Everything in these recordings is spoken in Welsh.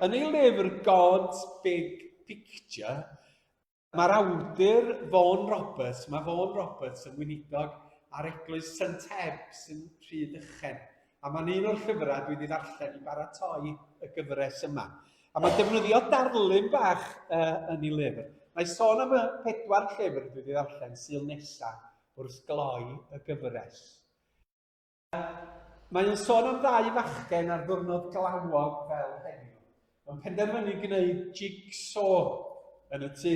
Yn ei lyfr God's Big Picture, mae'r awdur Vaughan Roberts, mae Vaughan Roberts yn weinidog ar eglwys St Ebs yn Rhydychen, a mae'n un o'r llyfrau dwi wedi ddarllen i baratoi y gyfres yma. A mae'n defnyddio darlun bach uh, yn ei lyfr. Mae sôn am y pedwar llyfr dwi wedi ddarllen sy'n nesaf wrth gloi y gyfres. Mae o'n sôn am ddau fachgen ar ddwrnod glawog fel heddiw. Mae'n penderfynu gwneud jigsaw yn y tŷ.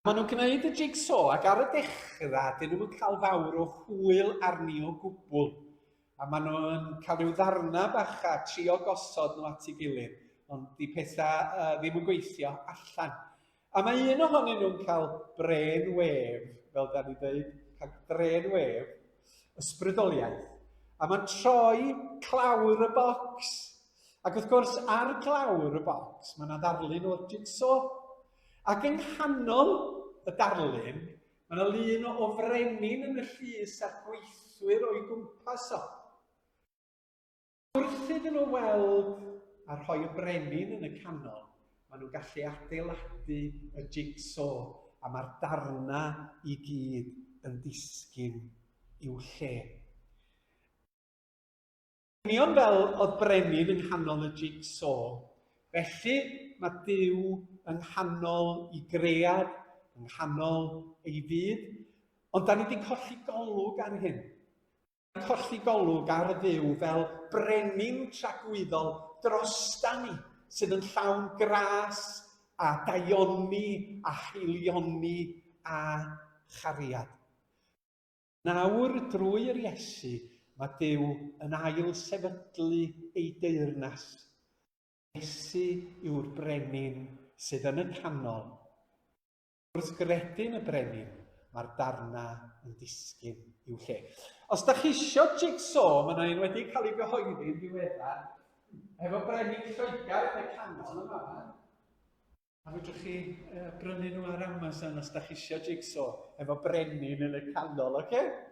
Maen nhw'n gwneud y jigsaw ac ar y dechrau dyn nhw'n cael fawr o hwyl arni o gwbl. A maen nhw'n cael rhyw ddarnau bach a trio gosod nhw at ei gilydd, ond di pethau uh, ddim yn gweithio allan. A mae un ohonyn nhw'n cael brên wef, fel da ni dweud, cael brên wef, ysbrydoliaeth, a mae'n troi clawr y bocs. Ac wrth gwrs, ar glawr y bocs, mae yna ddarlun o'r jigsaw. Ac yng nghanol y darlun, mae yna lun o frenin yn y llys a'r gweithwyr o'i gwmpas o. Wrth iddyn nhw weld a rhoi y brenin yn y canol, maen nhw'n gallu adeiladu y jigsaw a mae'r darnau i gyd yn disgyn i'w lle. Union fel oedd brenin yng nghanol y jigsaw, felly mae Duw yng nghanol i gread, yng nghanol ei fyd, ond da ni wedi colli golwg ar hyn. colli golwg ar y Dduw fel brenin tragwyddol drosta ni sydd yn llawn gras a daioni a haelioni a chariad. Nawr, drwy yr Iesu, mae Duw yn ail sefydlu ei deyrnas. Iesu yw'r brenin sydd yn y canol. Gwrthgredyn y brenin, mae'r darnau yn disgyn i'w lle. Os da chi isio jigsaw, mae yna un wedi cael ei gyhoeddi yn ddiweddar, efo brenin Lloegr yn y canol yma. A fedrwch chi uh, brynu nhw ar Amazon os da chi eisiau jigsaw efo brenin yn y canol, oce? Okay?